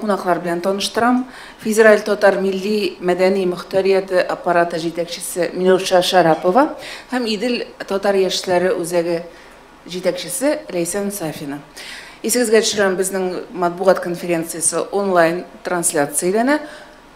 Кунаклар белән таныштырам, Федераль татар милли мәдәни мохтарияте аппараты җитәкчесе Милүша Шәрапова һәм Идел татар яшьләре үзәге җитәкчесе Ләйсән Сафина. Исегезгә төшерәм, безнең матбугат конференциясе онлайн трансляцияләнә.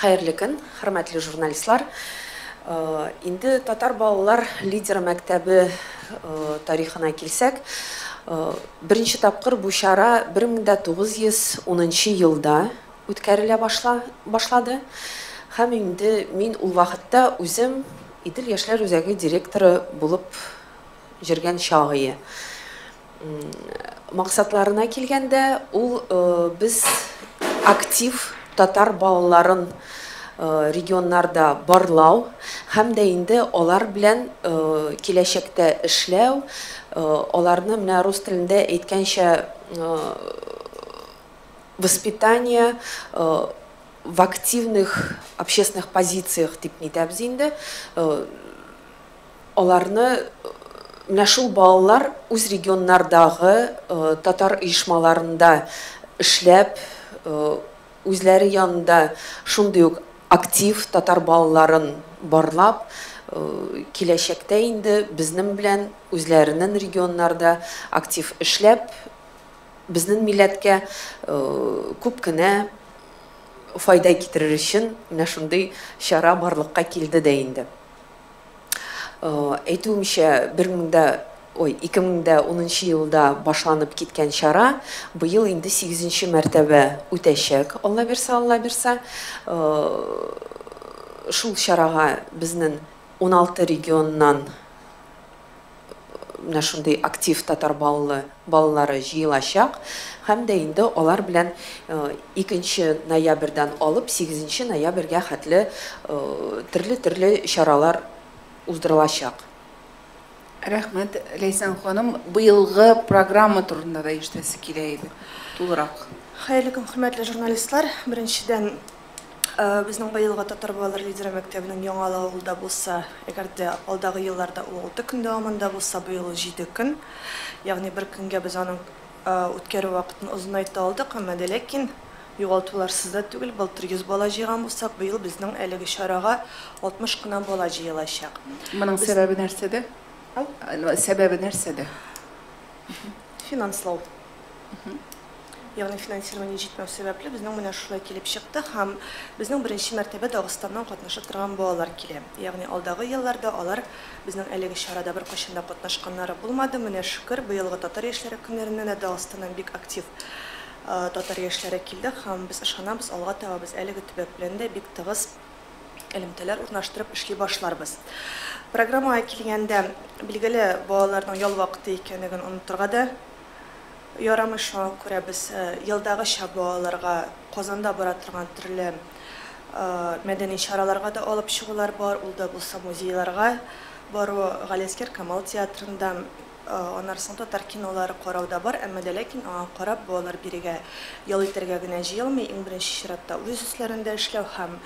Хәерле көн, хөрмәтле журналистлар! Инде татар балалар лидеры мәктәбе тарихына килсәк, беренче тапкыр бу чара 1910 елда үткәрелә башлады һәм инде мин ул вакытта үзем Идел яшьләр үзәге директоры булып җөргән чагые. Максатларына килгәндә, ул без актив татар балаларын регионнарда барлау һәм дә инде алар белән киләчәктә эшләү, аларны менә рус телендә әйткәнчә воспитание в активных общественных позициях дип әйтәбез инде. Аларны менә шул балалар үз регионнардагы татар оешмаларында эшләп, үзләре янында шундый ук актив татар балаларын барлап, киләчәктә инде безнен белән үзләренен регионнарда актив эшләп, безнен милләткә күп кенә файда китерер өчен менә шундый чара барлыкка килде дә инде. Әйтүемчә, 2010 елда башланып киткән чара быел инде сигезенче мәртәбә үтәчәк, Алла бирса, Алла бирса. Шул чарага безнең уналты регионнан менә шундый актив татар баллы балалары җыелачак һәм дә инде алар белән икенче ноябрьдән алып сигезенче ноябрьгә хәтле төрле төрле чаралар уздырылачак. Рәхмәт, Ләйсән ханым. Быелгы программа турында да ишетәсе килә иде, тулырак. Хәерле көн, хөрмәтле журналистлар! Беренчедән. Безнең быелгы Татар балалар лидеры мәктәбенең Яңалы авылда булса, әгәр дә алдагы елларда ул алты көн дәвамында булса, быел ул җиде көн. Ягъни бер көнгә без аның үткәрү вакытын озынайта алдык, әмма дә ләкин югалтуларсыз да түгел, былтыр 100 бала җыйган булсак, быел безнең әлеге чарага 60 кына бала җыелачак. Моның сәбәбе нәрсәдә? Сәбәбе нәрсәдә? Финанслау. Ягъни финансирование җитмәү сәбәпле безнең менә шулай килеп чыкты һәм безнең беренче мәртәбә Дагыстаннан катнашып торган балалар килә. Ягъни алдагы елларда алар безнең әлеге чарада беркайчан да катнашканнары булмады. Менә шөкер, быелгы татар яшьләре көннәренә дә Дагыстаннан бик актив татар яшьләре килде һәм без ышанабыз, алга таба без әлеге төбәк белән дә бик тыгыз элемтәләр урнаштырып эшли башларбыз. Программага килгәндә, билгеле, балаларның ял вакыты икәнлеген онытырга да ярамый, шуңа күрә без елдагыча бу аларга Казанда бара торган төрле мәдәни чараларга да алып чыгулар бар, ул да булса музейларга бару, Галиәскәр Камал театрында, аннары соң татар кинолары карау да бар, әмма дә ләкин аңа карап бу алар бирегә ял итәргә генә җыелмый, иң беренче чиратта үз өсләрендә эшләү һәм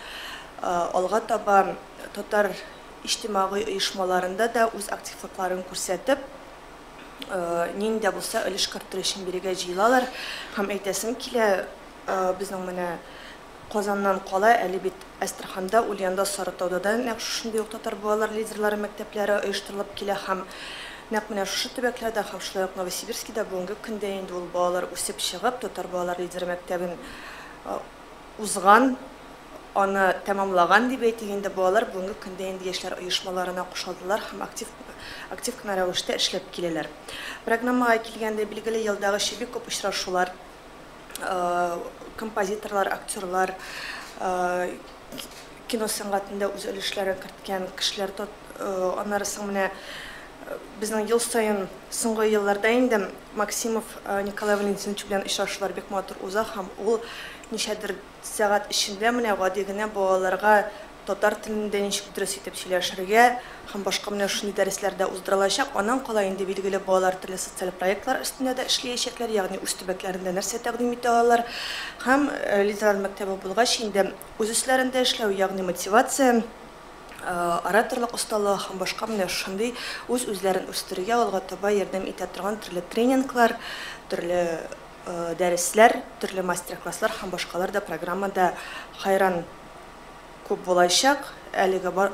алга таба татар иҗтимагый оешмаларында да үз активлыкларын күрсәтеп, нинди дә булса өлеш кертер өчен бирегә җыелалар һәм әйтәсем килә, безнең менә Казаннан кала, әле бит Әстерханда, Ульянда, Сарытауда да нәкъ шушындый ук татар балалар лидерлары мәктәпләре оештырылып килә һәм нәкъ менә шушы төбәкләрдә һәм шулай ук Новосибирскида бүгенге көндә инде ул балалар үсеп чыгып, татар балалар лидеры мәктәбен узган, аны тәмамлаган дип әйтик инде, балалар бүгенге көндә инде яшьләр оешмаларына кушылдылар һәм актив актив кына рәвештә эшләп киләләр. Программага килгәндә, билгеле, елдагыча бик күп очрашулар, композиторлар, актерлар, Кино сәнгатендә үз өлешләрен керткән кешеләр тот Аннары соң менә безнең ел саен соңгы елларда инде Максимов Николай Валентинович белән очрашулар бик матур уза һәм ул ничәдер сәгать эчендә менә гади генә балаларга татар телендә ничек дөрес итеп сөйләшергә һәм башка менә шундый дәресләр дә уздыра алачак. Аннан кала инде билгеле балалар төрле социаль проектлар өстендә дә эшлиячәкләр, ягъни үз төбәкләрендә нәрсә тәкъдим итә алалар һәм Лидерлар мәктәбе булгач инде Үз эшләрендә эшләү, ягъни мотивация, ораторлык осталыгы һәм башка менә шушындый үз-үзләрен үстерүгә алга таба ярдәм итә торган төрле тренинглар, төрле дәресләр, төрле мастер-класслар һәм башкалар да программада хәйран күп булачак. Әлеге бар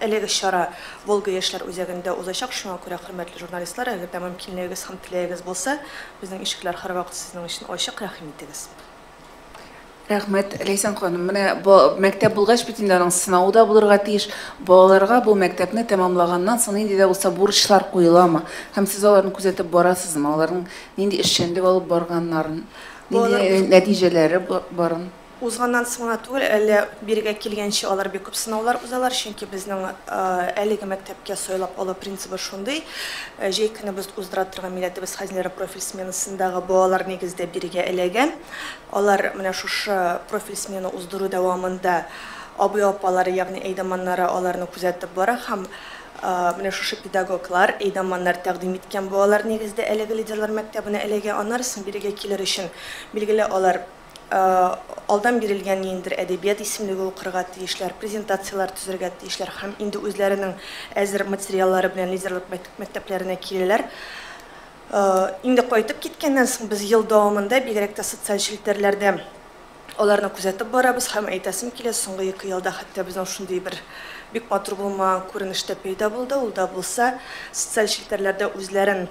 әлеге чара Волга яшьләр үзәгендә узачак, шуңа күрә, хөрмәтле журналистлар, әгәр дә мөмкинлегегез һәм теләгегез булса, безнең ишекләр һәрвакыт сезнең өчен ачык, рәхим итегез. Рәхмәт, Ләйсән ханым. Менә бу мәктәп булгач бит инде аның сынавы да булырга тиеш. Балаларга бу мәктәпне тәмамлаганнан соң нинди дә булса бурычлар куеламы? Һәм сез аларны күзәтеп барасызмы? Аларның нинди эшчәнлек алып барганнарын, нинди нәтиҗәләре барын? Узганнан соң гына түгел, әле бирегә килгәнче алар бик күп сынаулар узалар, чөнки безнең әлеге мәктәпкә сайлап алу принцибы шундый. Ә җәй көнебез уздыра торган милләтебез хәзинәләре профиль сменасындагы балалар нигездә бирегә эләгә. Алар менә шушы профиль смена уздыру дәвамында абый-апалары, ягъни әйдаманнары аларны күзәтеп бара һәм менә шушы педагоглар, әйдаманнар тәкъдим иткән балалар нигездә әлеге лидерлар мәктәбенә эләгә. Аннары соң бирегә килер өчен, билгеле, алар алдан бирелгән ниндидер әдәбият исемлеге укырга тиешләр, презентацияләр төзергә тиешләр һәм инде үзләренең әзер материаллары белән лидерлык мәктәпләренә киләләр. Инде кайтып киткәннән соң без ел дәвамында, бигрәк тә социаль челтәрләрдә аларны күзәтеп барабыз һәм әйтәсем килә, соңгы ике елда хәтта безнең шундый бер бик матур булмаган күренеш тә пәйда булды, ул да булса, социаль челтәрләрдә үзләрен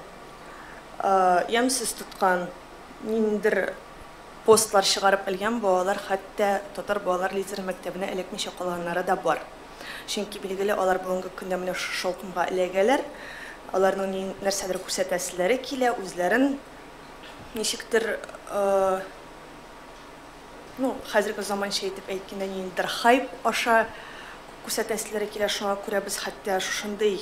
ямьсез тоткан ниндидер постлар чыгарып өлгән балалар хәтта татар балалар лидеры мәктәбенә эләкмичә калганнары да бар. Чөнки, билгеле, алар бүгенге көндә менә шушы шаукымга эләгәләр, аларның ни, нәрсәдер күрсәтәселәре килә, үзләрен ничектер, ну, хәзерге заманча итеп әйткәндә, ниндидер хайп аша күрсәтәселәре килә, шуңа күрә без хәтта шушындый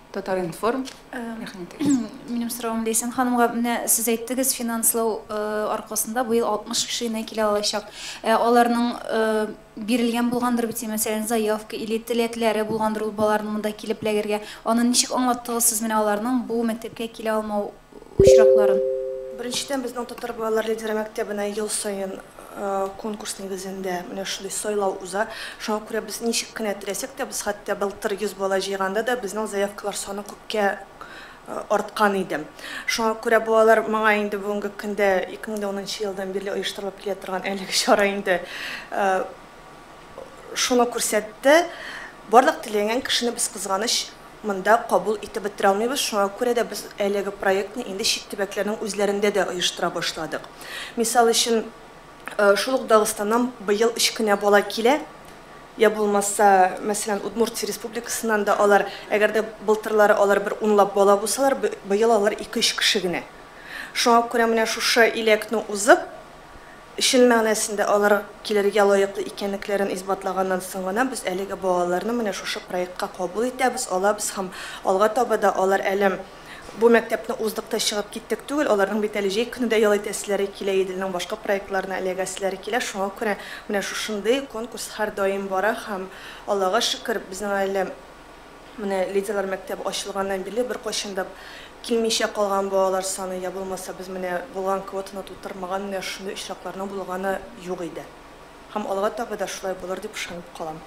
Татар-информ, рәхмәт. Минем соравым Ләйсән ханымга. Менә сез әйттегез, финанслау аркасында быел 60 кеше генә килә алачак. Ә аларның бирелгән булгандыр бит, мәсәлән, заявка или теләкләре булгандыр ул балаларның монда килеп эләгергә. Аны ничек аңлаттыгыз сез менә аларның бу мәктәпкә килә алмау очракларын. Беренчедән, безнең татар балалар лидеры мәктәбенә ел саен конкурс нигезендә менә шундый сайлау уза. Шуңа күрә без ничек кенә теләсәк тә, без хәтта былтыр 100 бала җыйганда да безнең заявкалар саны күпкә арткан иде. Шуңа күрә балалар моңа инде бүгенге көндә 2010 елдан бирле оештырылып килә торган әлеге чара инде шуны күрсәтте. Барлык теләгән кешене без кызганыч Монда кабул итеп бетерә алмыйбыз, шуңа күрә дә без әлеге проектны инде чит төбәкләрнең үзләрендә дә оештыра башладык. Мисал өчен, шул ук Дагыстаннан быел өч кенә бала килә, йә булмаса, мәсәлән, Удмуртия Республикасыннан да алар, әгәр дә былтырлары алар бер унлап бала булсалар, быел алар ике-өч кеше генә. Шуңа күрә менә шушы иләкне узып, Чын мәгънәсендә алар килергә лаеклы икәнлекләрен исбатлаганнан соң гына без әлеге балаларны менә шушы проектка кабул итәбез, алабыз һәм алга таба да алар әле бу мәктәпне уздык та чыгып киттек түгел, аларның бит әле җәй көне дә ял итәселәре килә, Иделнең башка проектларына эләгәселәре килә, шуңа күрә менә шушындый конкурс һәрдаим бара һәм, Аллага шөкер, безнең әле. Менә леди-лар мәктәбе ачылганнан бирле беркайчан да килмичә калган балалар саны йә булмаса без менә булган квотаны тутырмаган менә шундый очракларның булганы юк иде. Һәм алга таба да шулай булыр дип ышанып калам.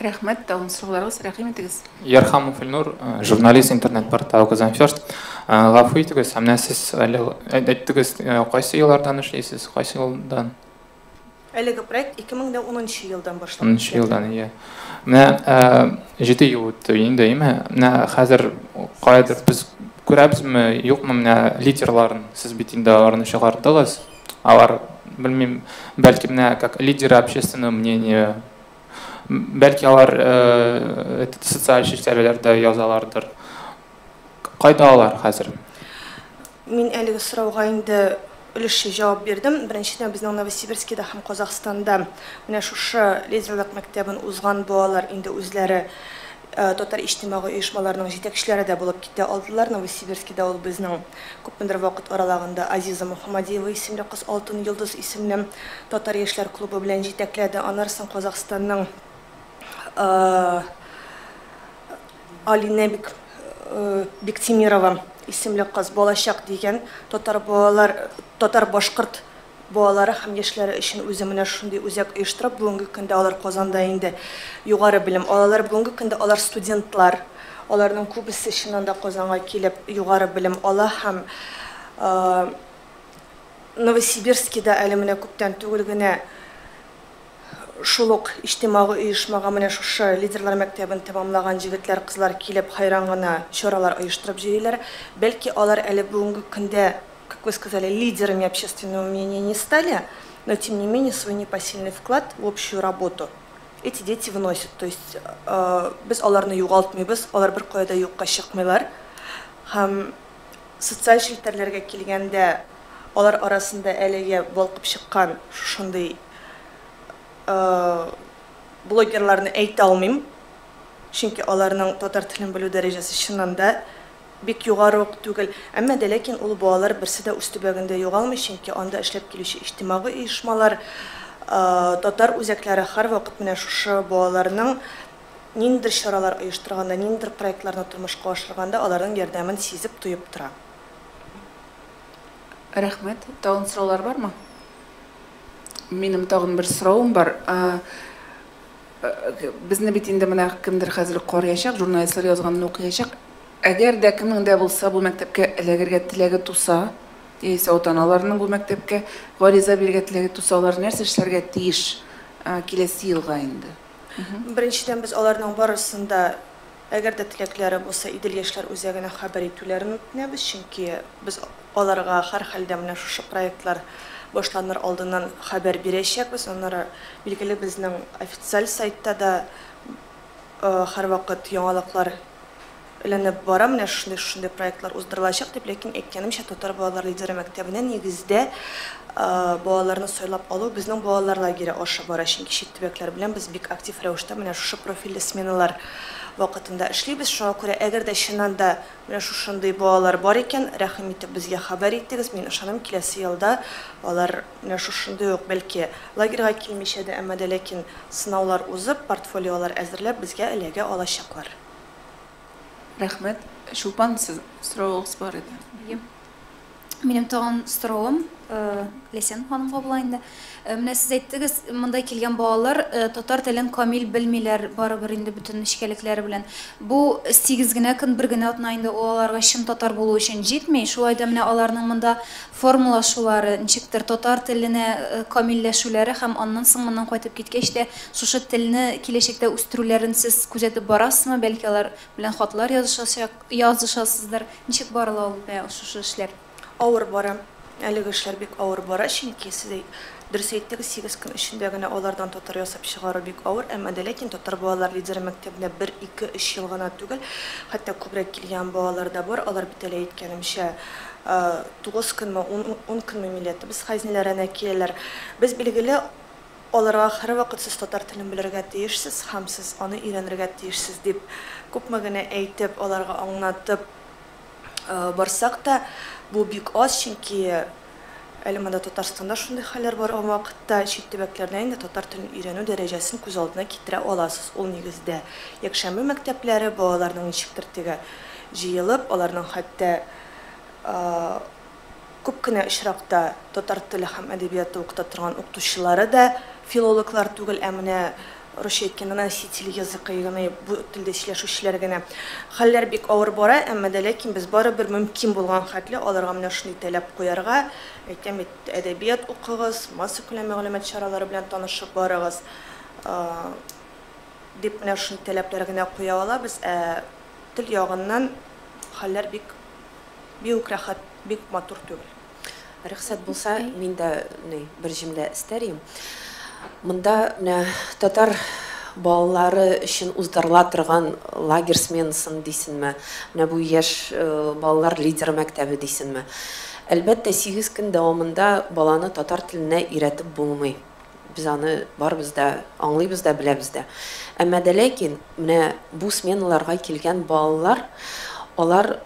Рәхмәт, тагын сорауларыгыз, рәхим итегез. Ярхамов Ильнур, журналист, интернет-портал Казан First. Гафу итегез, ә менә сез әле әйттегез, кайсы еллардан эшлисез, кайсы елдан? Әлеге проект 2010 нчы елдан башлап китә. Унынчы елдан, ия. Менә җиде ел үтте инде, име? Менә хәзер каядыр без күрәбезме, юкмы менә лидерларын? Сез бит инде аларны чыгардыгыз. Алар, белмим, бәлки менә как лидеры общественного мнения, бәлки алар этот социаль челтәрләрдә язалардыр. Кайда алар хәзер? Мин әлеге сорауга инде өлешчә җавап бирдем. Беренчедән, безнең Новосибирскида һәм Казахстанда менә шушы лидерлык мәктәбен узган балалар инде үзләре татар иҗтимагый оешмаларының җитәкчеләре дә булып китә алдылар. Новосибирскида ул безнең күпмедер вакыт аралыгында Азиза Мухамадиева исемле кыз Алтын йолдыз исемле татар яшьләр клубы белән җитәкләде. Аннары соң Казахстанның Алинә Биктимирова исемле кыз Балачак дигән татар балалар татар-башкорт балалары һәм яшьләре өчен үзе менә шундый үзәк оештырып, бүгенге көндә алар Казанда инде югары белем алалар. Бүгенге көндә алар студентлар. Аларның күбесе чыннан да Казанга килеп югары белем ала һәм Новосибирскида әле менә күптән түгел генә Шул ук иҗтимагый оешмага менә шушы Лидерлар мәктәбен тәмамлаган җегетләр-кызлар килеп хәйран гына чаралар оештырып йөриләр. Бәлки алар әле бүгенге көндә, как вы сказали, лидерами общественного мнения не стали, но тем не менее свой непосильный вклад в общую работу эти дети вносят. То есть без аларны югалтмыйбыз, алар беркая да юкка чыкмыйлар. Һәм социаль челтәрләргә килгәндә, алар арасында әлегә балкып чыккан шушындый. блогерларны әйтә алмыйм, чөнки аларның татар телен белү дәрәҗәсе чыннан да бик югары ук түгел. Әмма дә ләкин ул балалар берсе дә үз төбәгендә югалмый, чөнки анда эшләп килүче иҗтимагый оешмалар, татар үзәкләре һәрвакыт менә шушы балаларның ниндидер чаралар оештырганда, ниндидер проектларны тормышка ашырганда аларның ярдәмен сизеп, тоеп тора. Рәхмәт. Тагын сораулар бармы? Минем тагын бер соравым бар. Безне бит инде менә кемдер хәзер карыячак, журналистлар язганны укыячак. Әгәр дә кемнең дә булса бу мәктәпкә эләгергә теләге туса, яисә ата-аналарының бу мәктәпкә гариза бирергә теләге туса, алар нәрсә эшләргә тиеш киләсе елга инде? Беренчедән, без аларның барысын да Әгәр дә теләкләре булса, Идел яшьләр үзәгенә хәбәр итүләрен үтенәбез, чөнки без аларга һәрхәлдә менә шушы проектлар башланыр алдыннан хәбәр бирәчәкбез. Аннары, билгеле, безнең официаль сайтта да һәрвакыт яңалыклар эләнеп бара, менә шундый-шундый проектлар уздырылачак дип. Ләкин, әйткәнемчә, Татар балалар лидеры мәктәбенә нигездә балаларны сайлап алу безнең балалар лагере аша бара, чөнки чит төбәкләр белән без бик актив рәвештә менә шушы профильле сменалар Вакытында эшлибез, шуңа күрә әгәр дә чыннан да менә шушындый балалар бар икән, рәхим итеп безгә хәбәр итегез, мин ышанам киләсе елда алар менә шушындый ук, бәлки лагерьга килмичә дә, әмма дә ләкин сынаулар узып, портфолиолар әзерләп безгә эләгә алачаклар. Рәхмәт. Чулпан, сез, соравыгыз бар иде. Ем. Минем тагын стором Лесен ханымга була инде. Менә сез әйттегез, монда килгән балалар татар телен камил белмиләр, барыбер инде бөтен нечкәлекләре белән. Бу 8 генә көн, бер генә атна инде ул аларга чын татар булу өчен җитми. Шулай да менә аларның монда формалашулары, ничектер татар теленә камилләшүләре һәм аннан соң моннан кайтып киткәч тә шушы телне киләчәктә үстерүләрен сез күзәтеп барасызмы? Бәлки алар белән хатлар язышачак? Язышасыздыр. Ничек барыла ул менә шушы эшләр? Авыр бара. Әлеге эшләр бик авыр бара, чөнки, сез дөрес әйттегез, сигез көн эчендә генә алардан татар ясап чыгару бик авыр. Әмма дә ләкин татар балалар лидеры мәктәбенә бер, ике, өч ел гына түгел, хәтта күбрәк килгән балалар да бар. Алар бит әле, әйткәнемчә, тугыз көнме, ун көнме милләтебез хәзинәләренә киләләр. Без, билгеле, Аларга һәрвакыт сез татар телен белергә тиешсез һәм сез аны өйрәнергә тиешсез дип күпме генә әйтеп, аларга аңнатып барсак та, бу бик аз, чөнки әле монда Татарстанда шундый хәлләр барган вакытта чит төбәкләрдә инде татар телен өйрәнү дәрәҗәсен күз алдына китерә аласыз. Ул нигездә якшәмбе мәктәпләре, балаларның ничектер теге җыелып, аларның хәтта Күп кенә очракта татар теле һәм әдәбияты укыта торган укытучылары да филологлар түгел, ә менә русча әйткәндә носители языка, ягъни бу телдә сөйләшүчеләр генә. Хәлләр бик авыр бара, әмма дә ләкин без барыбер мөмкин булган хәтле аларга менә шундый тәләп куярга, әйтәм бит, әдәбият укыгыз, массакүләм мәгълүмат чаралары белән танышып барыгыз, дип менә шундый тәләпләр генә куя алабыз, ә тел ягыннан хәлләр бик. Биук рәхәт, бик матур түгел. Рөхсәт булса, мин дә ни бер җөмлә эстәр идем. Монда менә татар балалары өчен уздырыла торган лагерь сменасын дисенме, менә бу яшь балалар лидеры мәктәбе дисенме. Әлбәттә, сигез көн дәвамында баланы татар теленә өйрәтеп булмый. Без аны барыбыз да аңлыйбыз да, беләбез дә. Әмма дә ләкин менә бу сменаларга килгән балалар, алар,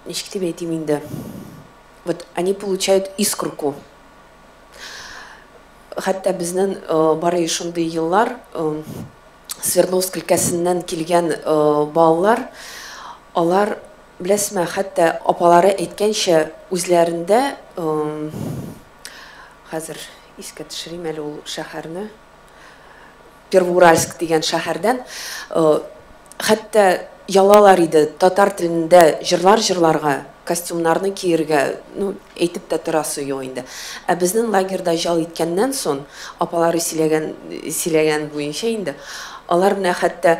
ничек дип әйтим инде, вот они получают искорку. Хәтта безнең бары шундый еллар Свердловск өлкәсеннән килгән балалар, алар, беләсезме, хәтта апалары әйткәнчә, үзләрендә Хәзер искә төшерим әле ул шәһәрне. Первоуральск дигән шәһәрдән хәтта ялалар иде татар телендә җырлар җырларга, костюмнарны киергә, ну, әйтеп тә торасы юк инде. Ә безнең лагерьда җал иткәннән сон, апалары сөйләгән сөйләгән буенча инде, алар менә хәтта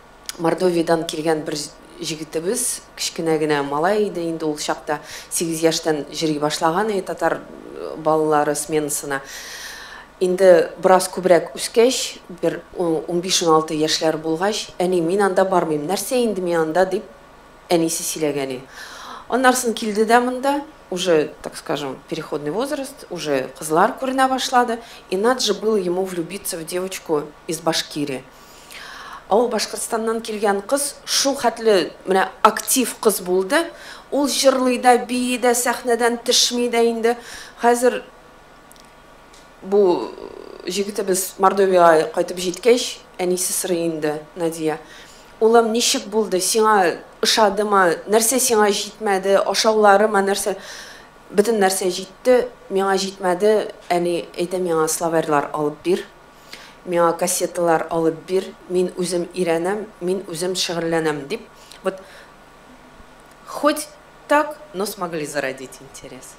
Мордовиядән килгән бер җегетебез, кечкенә генә малай иде инде ул чакта, сигез яшьтән җөри башлаган иде татар балалары сменасына. Инде бераз күбрәк үскәч, бер унбиш-уналты яшьләр булгач, Әни, мин анда бармыйм, нәрсә инде мин анда, дип әнисе сөйләгән иде. Аннарсын килде дә монда, уже, так скажем, переходный возраст, уже кызлар күренә башлады, и над же был ему влюбиться в девочку из Башкирии. Ау Башкортстаннан килгән кыз шул хәтле менә актив кыз булды, ул җырлый да, бии дә, сәхнәдән төшми дә инде. Хәзер бу җегетебез Мордовиягә кайтып җиткәч, әнисе сорый инде, Надия, улым, ничек булды, сиңа ошадымы, нәрсә сиңа җитмәде, ашауларымы, нәрсә? Бөтен нәрсә җитте, миңа җитмәде, әни, әйдә миңа словарьлар алып бир. Миңа кассеталар алып бир, мин үзем өйрәнәм, мин үзем шөгыльләнәм, дип, вот хоть так, но смогли зародить интерес.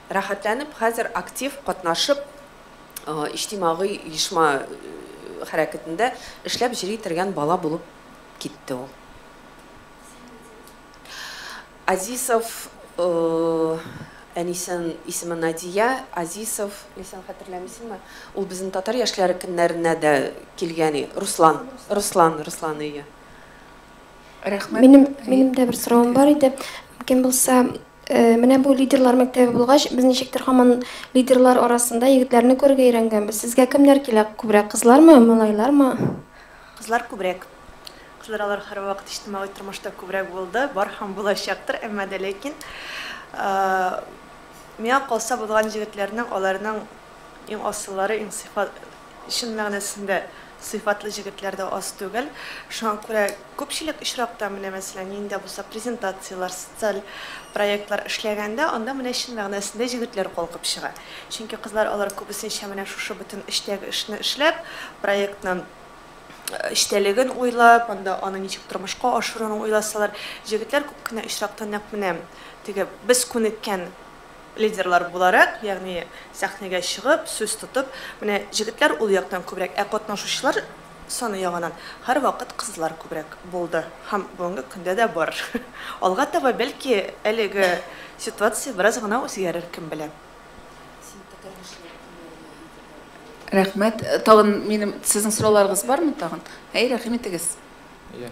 Рәхәтләнеп хәзер актив катнашып, иҗтимагый оешма хәрәкәтендә эшләп җыри торган бала булып китте ул. Азисов әнисен исеме Надия Азисов Ләйсән хәтерләмисеңме? Ул безнең татар яшьләре көннәренә дә килгән и Руслан Руслан Руслан ие. Рәхмәт. Минем минем дә бер соравым бар иде. Мөмкин булса, менә бу лидерлар мәктәбе булгач, без ничектер һаман лидерлар арасында егетләрне күрергә өйрәнгәнбез. Сезгә кемнәр килә күбрәк, кызлармы, малайлармы? Кызлар күбрәк. Кызлар алар һәрвакыт иҗтимагый тормышта күбрәк булды, бар һәм булачактыр, әмма дә ләкин миңа калса булган җегетләрнең аларның иң асыллары, иң сыйфат, чын мәгънәсендә сыйфатлы җегетләр дә аз түгел. Шуңа күрә күпчелек очракта менә мәсәлән нинди дә булса презентацияләр, социаль проектлар эшләгәндә анда менә чын мәгънәсендә җегетләр калкып чыга. Чөнки кызлар алар күбесенчә менә шушы бөтен эчтәге эшне эшләп, проектны, эчтәлеген уйлап, анда аны ничек тормышка ашыруны уйласалар, җегетләр күп кенә очракта нәкъ менә теге без күнеккән лидерлар буларак, ягъни сәхнәгә чыгып, сүз тотып, менә җегетләр ул яктан күбрәк, ә катнашучылар саны ягыннан һәрвакыт кызлар күбрәк булды һәм бүгенге көндә дә бар. Алга таба, бәлки, әлеге ситуация бераз гына үзгәрер, кем белә. Рәхмәт. Тагын минем сезнең сорауларыгыз бармы тагын? Әй, рәхим итегез. Иә.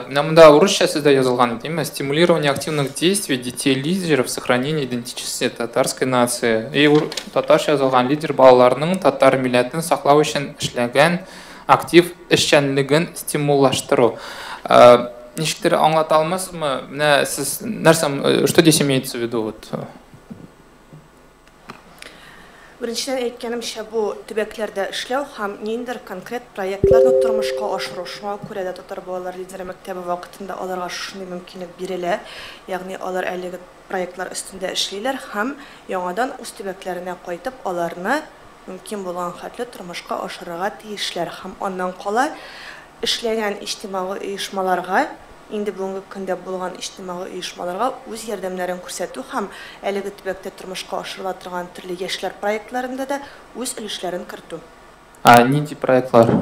Менә монда урысча сүздә язылган димме? Стимулирование активных действий детей лидеров сохранения идентичности татарской нации. И татарча язылган лидер балаларның татар милләтен саклау өчен эшләгән актив эшчәнлеген стимуллаштыру. Ничектер аңлата алмасызмы? Менә сез нәрсә, что здесь имеется в виду вот? Беренчедән әйткәнемчә, бу төбәкләрдә эшләү һәм ниндидер конкрет проектларны тормышка ашыру. Шуңа күрә дә Татар балалары лидеры мәктәбе вакытында аларга шушындый мөмкинлек бирелә, ягъни алар әлеге проектлар өстендә эшлиләр һәм яңадан үз төбәкләренә кайтып аларны мөмкин булган хәтле тормышка ашырырга тиешләр һәм аннан кала эшләгән иҗтимагый оешмаларга, инде бүгенге көндә булган иҗтимагый оешмаларга үз ярдәмнәрен күрсәтү һәм әлеге төбәктә тормышка ашырыла торган төрле яшьләр проектларында да үз өлешләрен кертү. Ә нинди проектлар?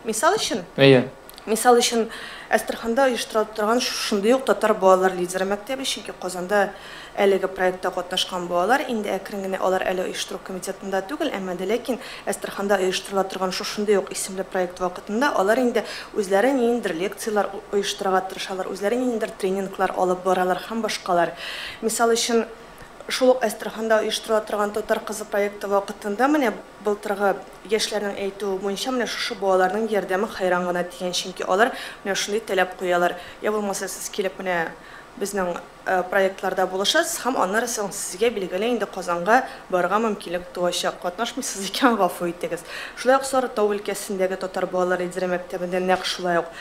Мисал өчен? Әйе. Мисал өчен, Әстерханда оештырылып торган шундый ук татар балалар лидеры мәктәбе, чөнки Казанда Әлеге проектта катнашкан балалар инде әкрен генә алар әле оештыру комитетында түгел, әмма дә ләкин Әстерханда оештырыла торган шушындый ук исемле проект вакытында алар инде үзләре ниндидер лекцияләр оештырырга тырышалар, үзләре ниндидер тренинглар алып баралар һәм башкалар. Мисал өчен, шул ук Әстерханда оештырыла торган Татар кызы проекты вакытында менә былтыргы яшьләрнең әйтүе буенча менә шушы балаларның ярдәме хәйран гына дигән, чөнки алар менә шундый таләп куялар, йә булмаса сез килеп менә безнең проектларда булышасыз һәм аннары соң сезгә, билгеле инде, Казанга барырга мөмкинлек туачак. Катнашмыйсыз икән, гафу итегез. Шулай ук Сарытау өлкәсендәге татар балалар лидеры мәктәбендә нәкъ шулай ук,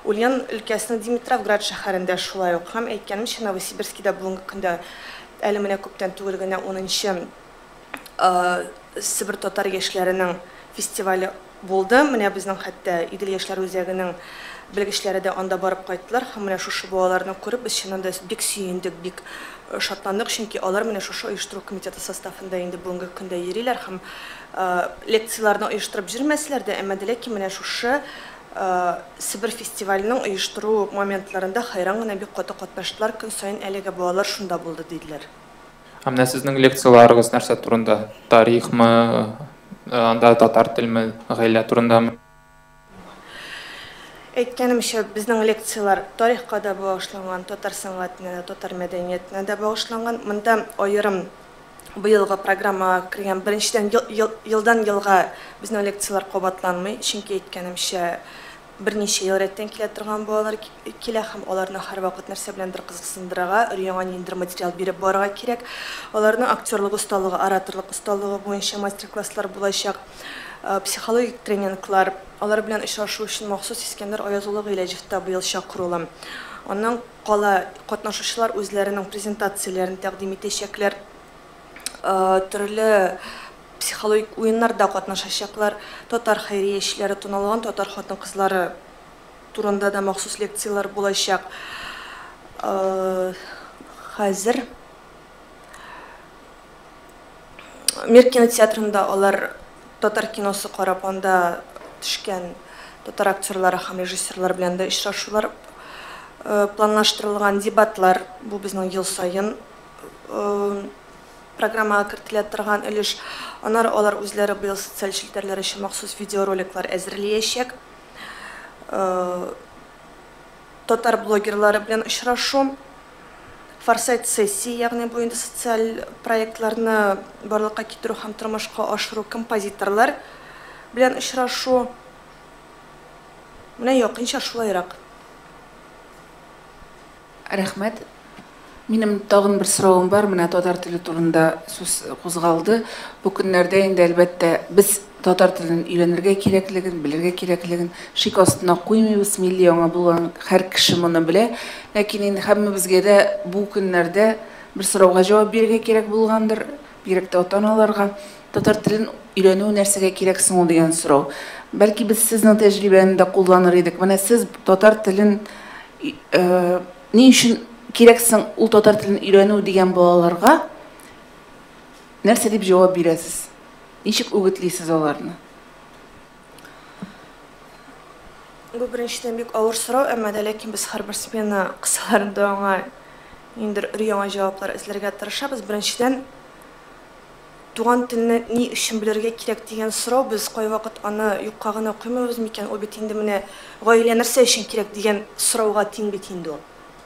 Ульян өлкәсенең Димитровград шәһәрендә шулай ук һәм, әйткәнемчә, Новосибирскида бүгенге көндә, әле менә күптән түгел генә унынчы, Себер татар яшьләренең фестивале булды. Менә безнең хәтта Идел яшьләр үзәгенең белгечләре дә анда барып кайттылар һәм менә шушы балаларны күреп без чыннан да бик сөендек, бик шатландык, чөнки алар менә шушы оештыру комитеты составында инде бүгенге көндә йөриләр һәм лекцияләрне оештырып җөрмәсләр дә, әмма дә ләкин менә шушы Себер фестиваленең оештыру моментларында хәйран гына бик каты катнаштылар, көн саен әлеге балалар шунда булды, диделәр. Ә менә сезнең лекцияләрегез нәрсә турында? Тарихмы, анда татар телме, гаилә турындамы? Әйткәнемчә, безнең лекцияләр тарихка да багышланган, татар сәнгатенә дә, татар мәдәниятенә дә багышланган. Монда аерым быелгы программага кергән, беренчедән, елдан-елга безнең лекцияләр кабатланмый, чөнки әйткәнемчә, Берничә ел рәттән килә торган балалар килә һәм аларны һәрвакыт нәрсә беләндер кызыксындырырга, өр-яңа ниндидер материал биреп барырга кирәк. Аларның актерлык осталыгы, ораторлык осталыгы буенча мастер-класслар булачак, психологик тренинглар. Алар белән очрашу өчен махсус Искәндәр Аяз улы Гыйләҗевта быел чакырулы. Аннан кала катнашучылар үзләренең презентацияләрен тәкъдим итәчәкләр. төрле психологик уеннарда катнашачаклар, татар хәйриячеләре, туналган татар хатын-кызлары турында да махсус лекцияләр булачак. Хәзер Мир кинотеатрында алар татар киносы карап, анда төшкән татар актерлары һәм режиссерлар белән дә очрашулар планлаштырылган. Дебатлар, бу безнең ел саен программага кертелә торган өлеш. Аннары алар үзләре быел социаль челтәрләр өчен махсус видеороликлар әзерлиячәк. Татар блогерлары белән очрашу, Форсайт сессия, ягъни бу инде социаль проектларны барлыкка китерү һәм тормышка ашыру, композиторлар белән очрашу. Менә якынча шулайрак. Рәхмәт. Минем тагын бер соравым бар, менә татар теле турында сүз кузгалды. Бу көннәрдә инде, әлбәттә, без татар телен өйрәнергә кирәклеген, белергә кирәклеген шик астына куймыйбыз, милли аңа булган һәр кеше моны белә. Ләкин инде һәммәбезгә дә бу көннәрдә бер сорауга җавап бирергә кирәк булгандыр. Бигрәк тә ата-аналарга татар телен өйрәнү нәрсәгә кирәк соң ул дигән сорау. Бәлки без сезнең тәҗрибәне дә кулланыр идек. Менә сез татар телен ни өчен кирәк соң ул татар телен өйрәнү дигән балаларга нәрсә дип җавап бирәсез? Ничек үгетлисез аларны? Бу беренчедән бик авыр сорау, әмма дә ләкин без һәрбер смена кысаларында аңа ниндер өр-яңа җаваплар эзләргә тырышабыз. Беренчедән, туган телне ни өчен белергә кирәк дигән сорау, без кайвакыт аны юкка гына куймыйбыз микән, ул бит инде менә гаилә нәрсә өчен кирәк дигән сорауга тиң бит инде ул.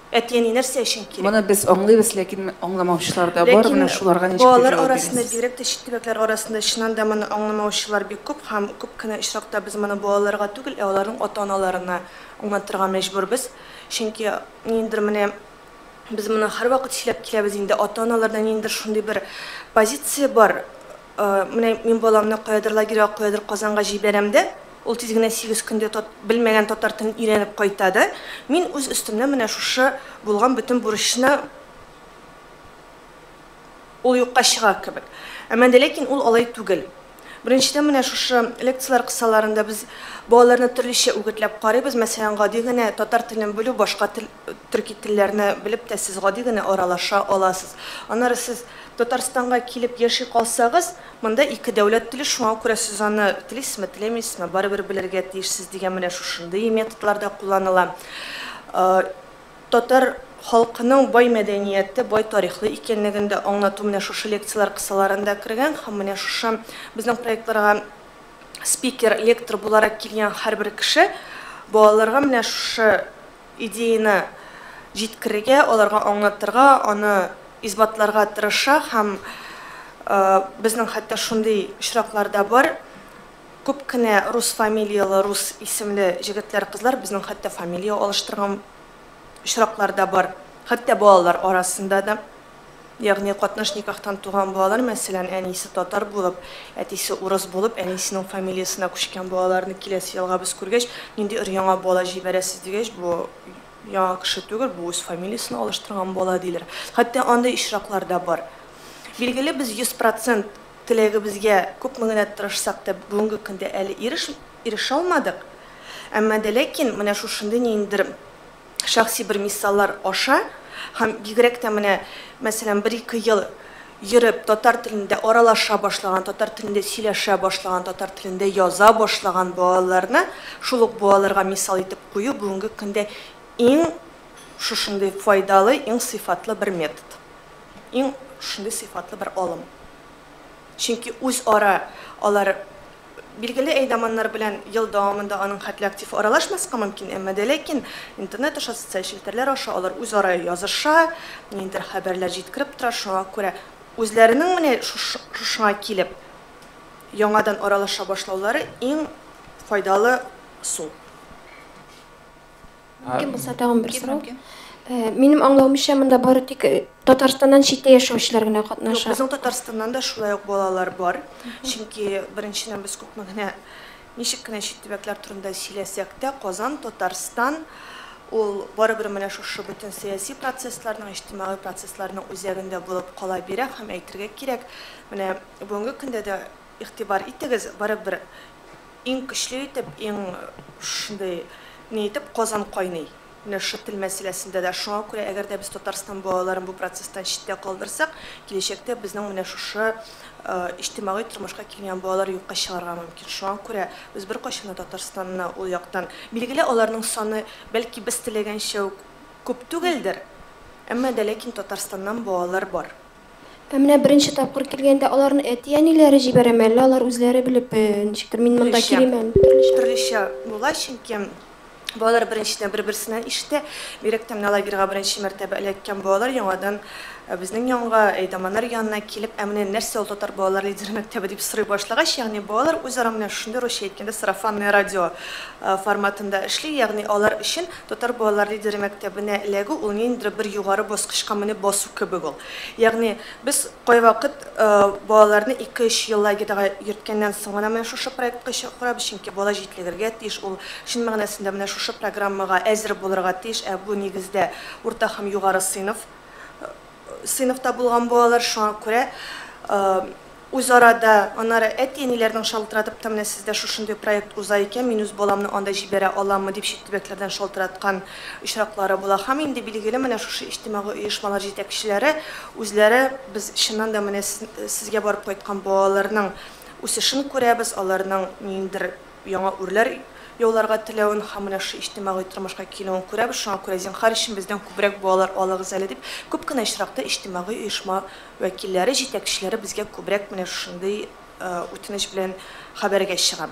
Әти-әни нәрсә өчен кирәк? Моны без аңлыйбыз, ләкин аңламаучылар да бар, менә шуларга ничек дип җавап бирәсез? Ләкин балалар арасында, бигрәк тә чит төбәкләр арасында чыннан да моны аңламаучылар бик күп һәм күп кенә очракта без моны балаларга түгел, ә аларның ата-аналарына аңлатырга мәҗбүрбез. Чөнки ниндидер менә без моны һәрвакыт сөйләп киләбез инде, ата-аналарда ниндидер шундый бер позиция бар, Менә мин баламны каядыр лагерьга, каядыр Казанга җибәрәм дә, ул тиз генә сигез көндә тат, белмәгән татар телен өйрәнеп кайта да, мин үз өстемнән менә шушы булган бөтен бурычны ул юкка чыга кебек. Әмма дә ләкин ул алай түгел. Беренчедән, менә шушы лекцияләр кысаларында без балаларны төрлечә үгетләп карыйбыз. Мәсәлән, гади генә татар телен белү, башка тел Төрки телләрне белеп тә сез гади генә аралаша аласыз. Аннары сез Татарстанга килеп яши калсагыз, монда ике дәүләт теле, шуңа күрә сез аны телисезме, теләмисезме, барыбер белергә тиешсез дигән менә шушындый методлар да кулланыла. Татар халкының бай мәдәнияте, бай тарихлы икәнлеген дә аңлату менә шушы лекцияләр кысаларында кергән һәм менә шушы безнең проектларга спикер, лектор буларак килгән һәрбер кеше балаларга менә шушы идеяне җиткерергә, аларга аңлатырга, аны исбатларга тырыша һәм безнең хәтта шундый очраклар да бар, күп кенә рус фамилияле, рус исемле җегетләр-кызлар безнең хәтта фамилия алыштырган очраклар да бар, хәтта балалар арасында да. Ягъни катнаш никахтан туган балалар, мәсәлән, әнисе татар булып, әтисе урыс булып, әнисенең фамилиясенә күчкән балаларны киләсе елга без күргәч, нинди өр-яңа бала җибәрәсез дигәч, бу яңа кеше түгел, бу үз фамилиясен алыштырган бала, диләр. Хәтта андый очраклар да бар. Билгеле, без 100 процент теләгебезгә күпме генә тырышсак та, бүгенге көндә әле ирешмә ирешә алмадык. Әмма дә ләкин менә шушындый ниндидер Шәхси бер мисаллар аша һәм бигрәк тә менә, мәсәлән, бер-ике ел йөреп, татар телендә аралаша башлаган, татар телендә сөйләшә башлаган, татар телендә яза башлаган балаларны шул ук балаларга мисал итеп кую бүгенге көндә иң шушындый файдалы, иң сыйфатлы бер метод. Иң шушындый сыйфатлы бер алым. Чөнки үзара алар Билгеле әйдаманнар белән ел дәвамында аның хәтле актив аралашмаска мөмкин, әмма дә ләкин интернет аша, социаль челтәрләр аша алар үзара языша, ниндидер хәбәрләр җиткереп тора, шуңа күрә үзләренең менә шушыңа килеп яңадан аралаша башлаулары иң файдалы сул. Мөмкин булса тагын бер сорау. Минем аңлавымча, монда бары тик Татарстаннан читтә яшәүчеләр генә катнаша. Безнең Татарстаннан да шулай ук балалар бар. Чөнки беренчедән без күпме генә ничек кенә чит төбәкләр турында сөйләсәк тә, Казан, Татарстан ул барыбер менә шушы бөтен сәяси процессларның, иҗтимагый процессларның үзәгендә булып кала бирә һәм әйтергә кирәк, менә бүгенге көндә дә Игътибар итегез, барыбер иң көчле итеп, иң шундый ни итеп Казан кайный. Менә шушы тел мәсьәләсендә дә. Шуңа күрә әгәр дә без Татарстан балаларын бу процесстан читтә калдырсак, киләчәктә безнең менә шушы иҗтимагый тормышка килгән балалар юкка чыгарга мөмкин. Шуңа күрә без беркайчан да Татарстанны ул яктан, билгеле, аларның саны, бәлки, без теләгәнчә үк күп түгелдер, әмма дә ләкин Татарстаннан балалар бар. Ә менә беренче тапкыр килгәндә аларны әти-әниләре җибәрәме, әллә алар үзләре белеп, ничектер, мин монда килим әле дип? Төрлечә. Төрлечә була, чөнки балалар беренчедән бер-берсеннән ишетә. Бигрәк тә менә лагерьга беренче мәртәбә эләккән балалар яңадан безнең янга, әйдаманнар янына килеп, ә менә нәрсә ул татар балалар лидеры мәктәбе дип сорый башлагач, ягъни балалар үзара менә шундый, русча әйткәндә, сарафанное радио форматында эшли, ягъни алар өчен Татар балалар лидеры мәктәбенә эләгү ул ниндидер бер югары баскычка менеп басу кебек ул. Ягъни, без кайвакыт балаларны ике-өч ел лагерьга йөрткәннән соң гына менә шушы проектка чакырабыз, чөнки бала җитлегергә тиеш, ул чын мәгънәсендә менә шушы программага әзер булырга тиеш, ә бу, нигездә, урта һәм югары сыйныф. сыйныфта булган балалар, шуңа күрә үзара да, аннары әти-әниләрнең шалтыратып та, менә сездә шушындый проект уза икән, мин үз баламны анда җибәрә аламмы, дип чит төбәкләрдән шалтыраткан очраклары була. Һәм инде, билгеле, менә шушы иҗтимагый оешмалар җитәкчеләре үзләре, без чыннан да менә сезгә барып кайткан балаларның үсешен күрәбез, аларның ниндидер яңа үрләр яуларга теләвен һәм менә шушы иҗтимагый тормышка килүен күрәбез, шуңа күрә зинһар өчен бездән күбрәк балалар алыгыз әле дип, күп кенә очракта иҗтимагый оешма вәкилләре, җитәкчеләре безгә күбрәк менә шушындый үтенеч белән хәбәргә чыга.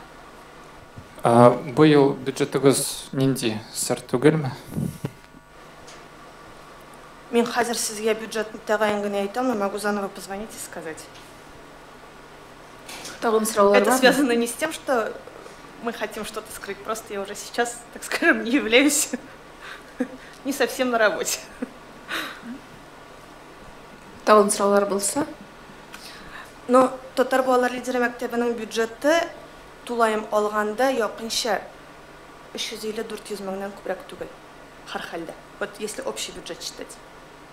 Ә быел бюджетыгыз нинди, сер түгелме? Мин хәзер сезгә бюджетны тәгаен генә әйтә алмыйм, могу заново позвонить и сказать. Тагын сораулар Это связано не с тем, что мы хотим что-то скрыть, просто я уже сейчас, так скажем, не являюсь не совсем на работе. Тагын сораулар булса? Ну, татар балалар лидеры мәктәбенең бюджеты тулаем алганда якынча 350-400 меңнән күбрәк түгел. Һәр хәлдә. Вот если общий бюджет считать.